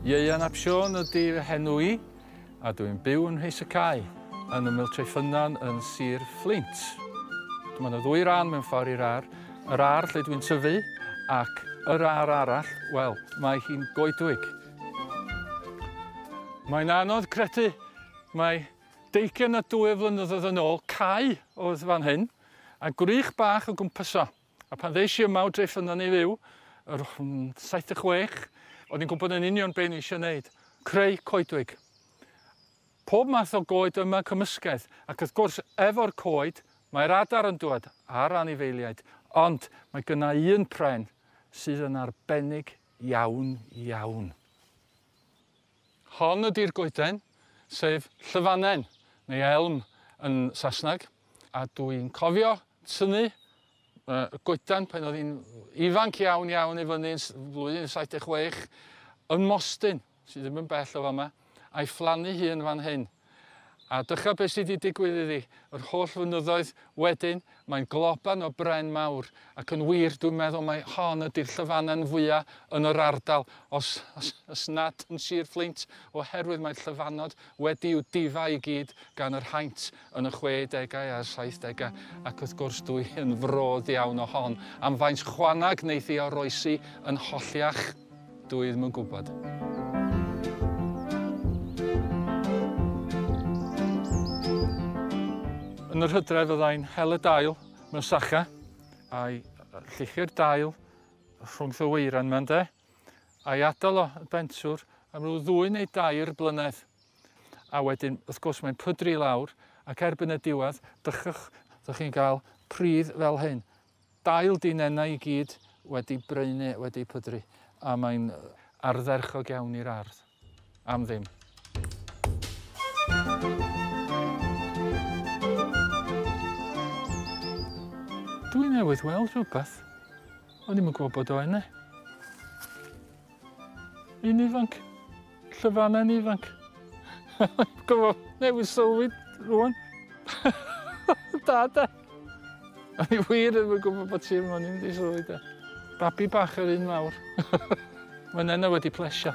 Ieuan ap Siôn ydy fy henw i, a dw i'n byw yn Nheis y Cae, yn ymyl Treffynnon yn Sir Fflint. Mae yna ddwy ran mewn ffordd i'r ar, yr ar lle dwi'n tyfu, ac yr ar arall, wel, mae hi'n goedwig. Mae'n anodd credu mae deugian a dwy o flynyddoedd yn ôl cae oedd fan hyn, a gwrych bach o gwmpas o. A pan ddes i yma o Dref Llynnon i fyw, yr o- yn 76, o'n i'n gwybod yn union be o'n i eisiau wneud, creu coedwig. Pob math o goed yma, cymysgedd, ac wrth gwrs, efo'r coed, mae'r adar yn dŵad, a'r anifeiliaid, ond mae gyna i un pren sydd yn arbennig iawn iawn. Hon ydi'r goeden, sef llyfanen, neu elm yn Saesneg, a dw i'n cofio tynnu y goedan pan oedd hi'n ifanc iawn iawn i fyny yn flwyddyn yn 76 yn Mostyn, sydd ddim yn bell o fama, a'i phlannu hi yn fan hyn. A dychaf beth sydd wedi digwydd iddi, yr holl flynyddoedd wedyn, mae'n globan o bren mawr, ac yn wir, dwi'n meddwl mai hon ydy'r llyfanen fwya' yn yr ardal, os, os, os nad yn Sir Fflint, oherwydd mae'r llyfanod wedi i'w difa i gyd gan yr haint yn y 60au a'r 70au, ac wrth gwrs dwi yn frodd iawn o hon, am faint chwanag wneith i oroesi yn holliach. Dw i ddim yn gwybod. Yn yr hydref fyddai'n hel y dail mewn sacha, a'i lluchio'r dail rhwngth y weiran yma ynde, a'i adael o y bentwr am ryw ddwy neu dair blynedd. A wedyn, wrth gwrs, mae'n pydru i lawr, ac erbyn y diwedd, dychwch, ydych chi'n cael pridd fel hyn. Dail di nenau i gyd wedi braenu, wedi pydru, a mae'n ardderchog iawn i'r ardd. Am ddim. Dwi newydd weld rhywbeth. O'n i'm yn gwybod bod o ene. Yn ifanc. Llyfannau'n ifanc. Gofod newid sylwi rwan. da da. A ni wir ddim yn gwybod bod ti yma, ni'n mynd i sylwi da. Babi bach yr un mawr. Mae'n enna wedi plesio.